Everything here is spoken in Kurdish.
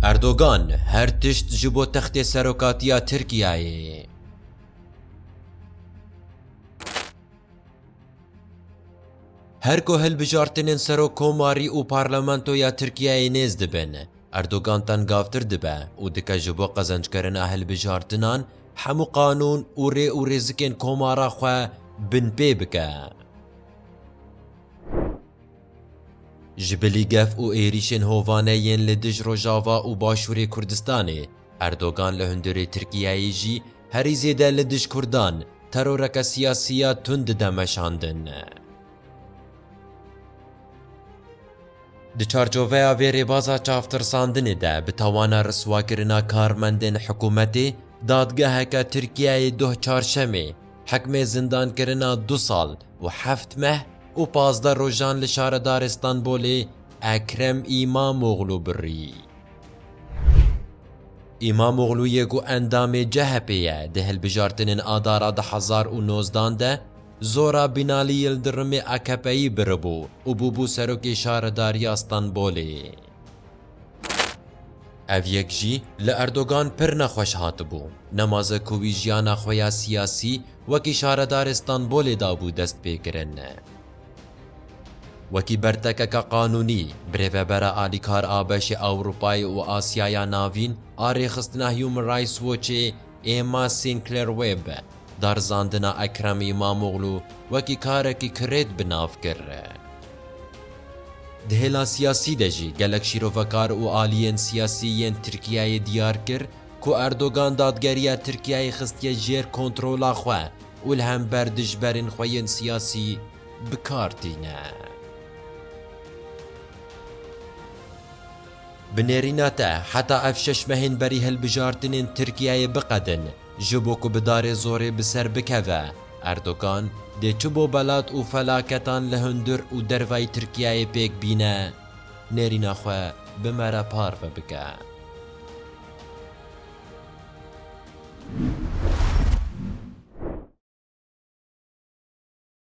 Erdogan her tişt ji bo textê serokatiya Tirkiyeyê. Her ku hilbijartinên serok komarî û parlamentoya Tirkiyeyê nêz dibin, Erdogan tengavtir dibe û dike ji bo qezenckerina hilbijartinan hemû qanûn û rê û rêzikên komara xwe binpê bike. Ji bilî gef û êrîşên hovane yên li dij Rojava û Başûrê Kurdistanê, Erdogan li hundirê Tirkiyeyê jî herî zêde li dij Kurdan teroreke siyasî ya tund dide meşandin. Di çarçoveya vê rêbaza çavtirsandinê de bi tawana riswakirina karmendên hikûmetê, dadgeheke Tirkiyeyê doh Çarşemê, Hikmê zindankirina du sal û heft meh û pazdeh rojan li Şaredarê Stenbolê Ekrem Îmamoglû birî. Îmamoglûyê ku endamê CHP'ê ye di hilbijartinên Adara du hezar û nozdan de zora Bînalî Yildirimê AKP'î biribû û bûbû Serokê Şaredariya Stenbolê. Ev yek jî li Erdogan pir nexweş hatibû. Nemaze ku wî jiyana xwe ya siyasî wekî şaredarê Stenbolê dabû dest pê kirin. Wekî bertekeke qanûnî, birêvebera alîkar a beşê Ewropayê û Asyaya Navîn a rêxistina Human Rights Watchê Emma Sinclair Webb darzandina Ekrem Îmamoglû wekî karekî kirêt bi nav kir. Di hêla siyasî de jî gelek şîrovekar û aliyên siyasî yên Tirkiyeyê diyar kir ku Erdogan dadgeriya Tirkiyeyê xistiye jêr kontrola xwe û li hember dijberên xwe yên siyasî bi kar tîne. Bi nêrîna te heta ev şeş mehên berî hilbijartinên Tirkiyeyê biqedin ji bo ku bi darê zorê bi ser bikeve, Erdogan dê çi bo belat û felaketan li hundir û dervayî Tirkiyeyê pêk bîne, nêrîna xwe bi me re parve bike.